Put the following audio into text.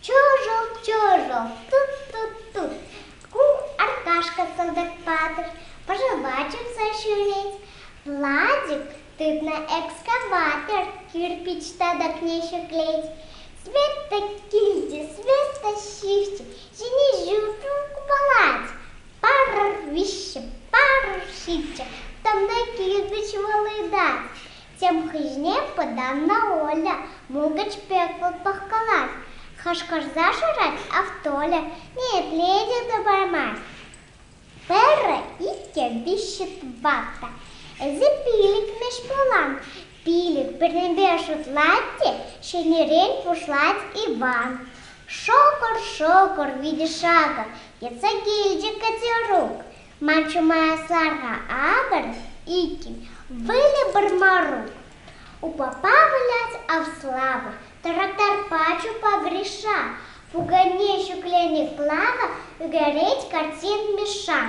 Чужок, чужок, тут-тут-тут. Ку Аркашка кӑтӑк патӑр, пожелачивса ҫӳрет. Владик тытнӑ экскаватор, кирпич татӑкне ҫӗклет. Света килте, Света ҫыхчӗ, ҫине ҫуртӑн купалать. парӑр виҫҫӗ, парӑр ҫиччӗ, тӑмне килпӗч вӑлытать. Тем хыҫне пытаннӑ Оля мулкӑч пек пӑхкалать. Хашкӑрса шырать Автоля, ниепле те тӑпармасть. Пӗрӗ, иккӗ, виҫҫӗ, тӑватта. Эсӗ пилӗкмӗш пулан, Пилӗк пӗрремпе шутлать те ҫӗнӗрен пуҫлать Иван. Шӑкӑр-шӑкӑр витӗ шакӑр йӑтса килчӗ Катерук. Ман чума сарра акӑр иккен, выльӑ Борморук. Упапа вылять Авслава, тракторпа чупа Гриша, пукане ҫӗкленӗ Клава ӳкерет картин Мишан.